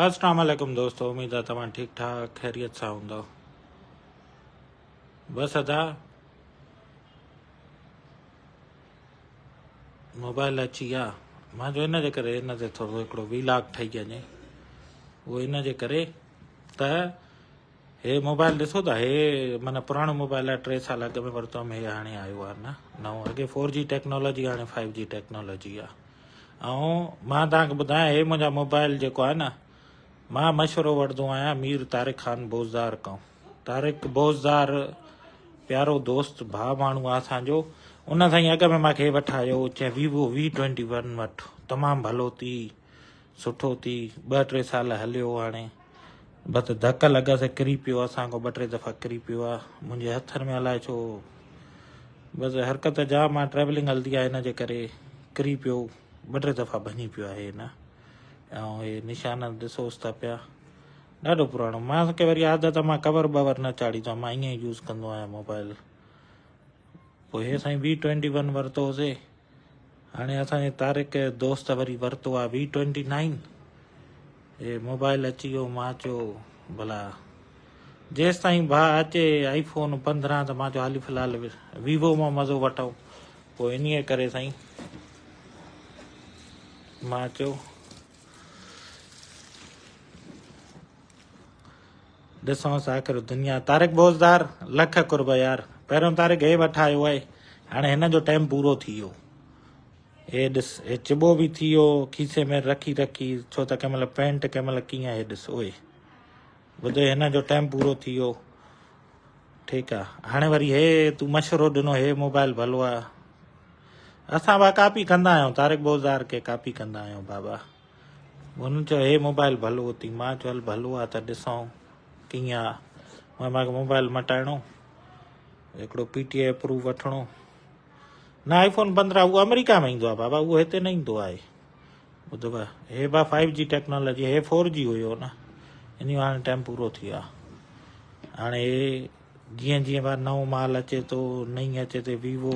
اسلام عليڪم دوستو اميد آ توهان ٺيڪ ٺاڪ خيريت سان هوندؤ بس ادا موبائل اچي ويا مان جو ان جي ڪري ان تي ٿورو هڪڙو وي لاگ ٺهي وڃي اهو ان جي ڪري ته هي موبائل ڏسو ٿا هي من پراڻو موبائل آهي ٽي سال اڳ ۾ ورتو هيم هي هاڻي آيو آهي نه نئون اڳي فور جي ٽيڪنالاجي هاڻي فائيو جي ٽيڪنالاجي آهي ۽ مان تانکي ٻڌايان هي منهنجا موبائل جيڪو آهي نه مان مشورو وٺندو آهيان مير طارق خان بوزدار کان طارق بوزدار پيارو دوست ڀاء ماڻهو آهي اسانجو ان سائين اڳ ۾ ماکي وٺايو چي ويوو وي ٽوينٽي ون وٺ تمام ڀلو ٿي سٺو ٿي ٻه ٽي سال هليو هاڻي بس ڌڪ لڳس ۽ ڪري پيو اسان کان ٻه ٽي دفعا ڪري پيو آ منهنجي هٿن ۾ الاء ڇو بس حرڪت جام آ ٽريولنگ هلدي آ هن جي ڪري ڪري پيو ٻه ٽي دفعا ڀڃي پيو آهي هن ۽ هي نشان ڏسوس ٿا پيا ڏاڍو پراڻو مان کي وري عادت آ مان ڪور بور نه چاڙهيندو آهيان مان ائين يوز ڪندو آهيان موبائل پوء هي سائين وي ٽوئنٽي ون ورتوسي هاڻي اسان جي طارق دوست وري ورتو آ V twenty nine E mobile اچي ويو مان چيو ڀلا جيستائين ڀا اچي آئي فون پندرهن ته مان چيو هالي فلحال ويوو مان مزو وٺون پوء انهي ڪري سائين مان چيو ڏسونس آخر دنيا طارق بوزدار لک قرب يار پهريون طارق هي وٺ آيو آهي هاڻي هن جو ٽائيم پورو ٿي ويو هي ڏس هي چبو به ٿي ويو کيسي ۾ رکي رکي ڇو ته ڪنهن مهل پينٽ ڪنهن مهل ڪيئن هي ڏس اوئي ٻڌو هن جو ٽائيم پورو ٿي ويو ٺيڪ آ هاڻي وري هي تو مشورو ڏنو هي موبائل ڀلو آ اسان با ڪاپي ڪندا آهيون طارق بوزار کي ڪاپي ڪندا آهيون بابا هن چيو هي موبائيل ڀلو اٿي. مان چيو هل ڀلو آ ته ڏسون ڪيئن آ. هن مان کي موبائيل مٽائڻو هڪڙو پي ٽي آئي اپروو وٺڻو نه آئي فون پندرهن اهو آمريڪا ۾ ايندو آ بابا اهو هتي نه ايندو آهي ٻڌ ڀا هي با فائيو جي ٽيڪنالاجي هي فور جي هيو نه ان جو هاڻي ٽائيم پورو ٿي ويو آ هاڻي جيئن جيئن با نئون مال اچي ٿو نئين اچي ٿي ويوو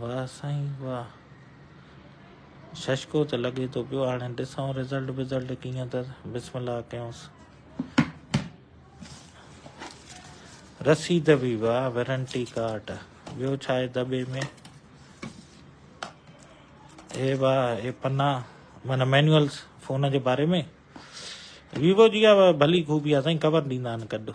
واه سائين واه ششڪو ته لڳي ٿو پيو هاڻي ڏسون رزلٽ بزلٽ ڪيئن ته بسم الله ڪيونس رسيد به واه وارنٽي ڪارڊ ٻيو ڇا آهي دٻي ۾ اي واه اي پنا من مينولس فون جي باري ۾ ويوو جي آ ڀلي خوبي آ سائين خبر ڏيندا آهن ڪڏو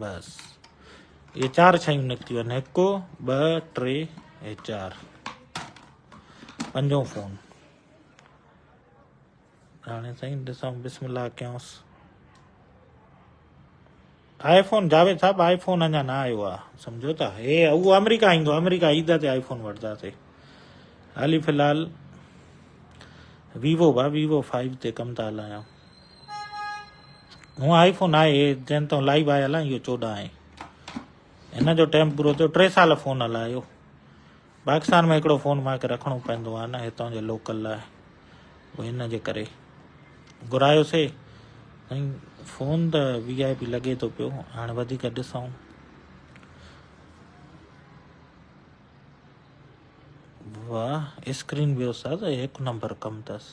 بس اهي چار شيون نڪتيون آهن هڪ ٻه ٽي ۽ چار پنجون فون هاڻي سائين ڏسان بسم الله ڪيانس آئي فون جاويد صاحب آئي فون اڃا نه آيو آ سمجھو ٿا هي هو آمريڪا ايندو آمريڪا عيد تي آئي فون وٺنداسي هالي في الحال ويوو با ويوو فائيو تي ڪم ٿا هلايان هونء آئي فون آهي هي جنهن تون لائيو آهي هلان اهو چوڏهن آهي هن جو ٽائم پورو ٿيو ٽي سال فون هلايو پاڪستان ۾ هڪڙو فون ماکي رکڻو پوندو آهي نه هتان جي لوڪل لاء وي هن جي ڪري گهرايو سي سائين فون ته وي آء پي لڳي ٿو پيو هاڻي وڌيڪ ڏسون واهه اسڪرين به استاد هڪ نمبر ڪم اٿس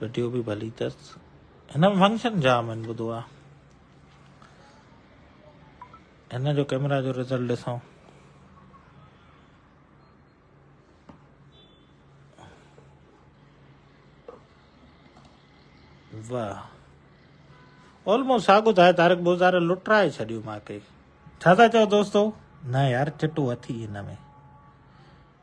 وڊيو به ڀلي اٿس هن ۾ فنڪشن جام آهن ٻڌو آ هن جو ڪيمرا جو رزلٽ ڏسو واهه آلموسٽ ساڳو ته آهي طارق بوزار لٽرائي ڇڏيو ماکي ڇا ٿا چئو دوستو نه يار چٽو اٿي هن ۾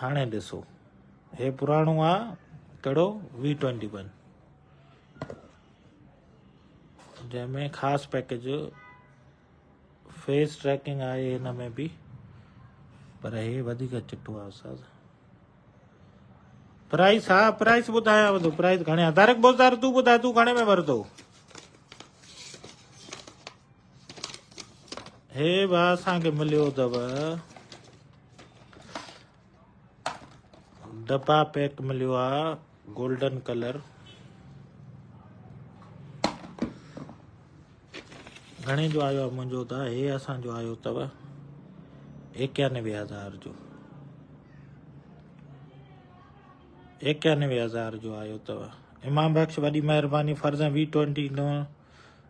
هاڻي ڏسو هي پراڻو آ ڪهڙو وي ٽوينٽي ون جنهن ۾ خاص پيڪيج فيس ٽريڪنگ آهي هن ۾ به پر هي وڌيڪ چٽو آ استاد پرائس ها پرائس ٻڌايا وڌو پرائس گهڻي آ تارڪ بوزدار تون ٻڌاء تون گهڻي ۾ ورتو هي به اسان کي مليو اٿو ڊبا پيڪ مليو آهي گولڊن ڪلر گهڻي جو آيو آهي منهنجو ته هي اسان جو آيو اٿو ايڪيانوي هزار جو ايڪيانوي هزار جو آيو اٿو امام بخش وڏي مهرباني فرزن وي ٽوينٽي نو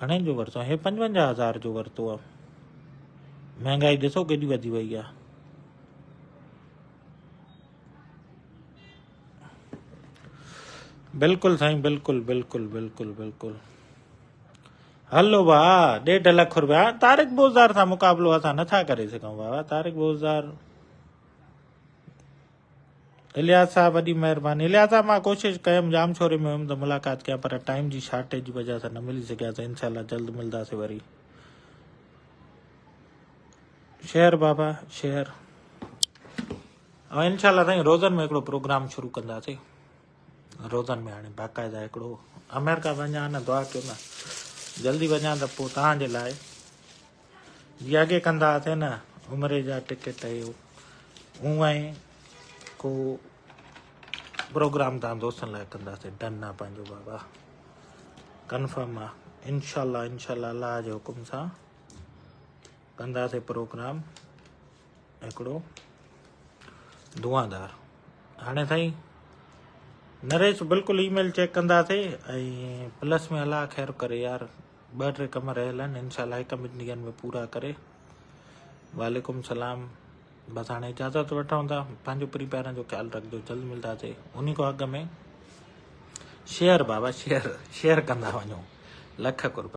گهڻي جو ورتو هي پنجونجاهه هزار جو ورتو آ مهنگائي ڏسو ڪيڏي وڌي وئي آ بلڪل سائين بلڪل بلڪل بلڪل بلڪل هلو با ڏيڍ لک روپيا طارق بوزدار سان مقابلو اسان نٿا ڪري سگهون بابا طارق بوزدار الياس صاحب وڏي مهرباني. الياس صاحب مان ڪوشش ڪيم ڄام شوري ۾ هيم ته ملاقات ڪيان پر ٽائيم جي شارٽيج جي وجه سان نه ملي سگهيا سين انشاء الله جلد ملداسين وري شهر بابا شهر ۽ انشاء الله سائين روزن ۾ هڪڙو پروگرام شروع ڪنداسين روزن ۾ هاڻي باقاعده هڪڙو آمريڪا وڃان نه دعا ڪيو نه جلدي وڃان ته پوء تهان جي لاء جيئا ڪي ڪندا ھئاسين نه عمري جا ٽڪيٽ ھي ھون ۽ ڪو پروگرام تان دوستن لاء ڪندا سي ڊن آ پنهنجو بابا ڪنفرم آ انشاءالله انشاءالله الله جي حڪم سان ڪندا سي پروگرام هڪڙو دعادار هاڻي سائين نريش بلڪل اي ميل چيڪ ڪندا سي ۽ پلس ۾ الله خير ڪري يار ٻه ٽي ڪم رهيل آهن انشاء الله هڪ ٻن ڏينهن ۾ پورا ڪري وعليڪم سلام بس هاڻي اجازت وٺون ٿا پنهنجو پري پيارن جو خيال رکجو جلد ملنداسي انهي کان اڳ ۾ شيئر بابا شيئر شيئر ڪندا وڃو لک قربان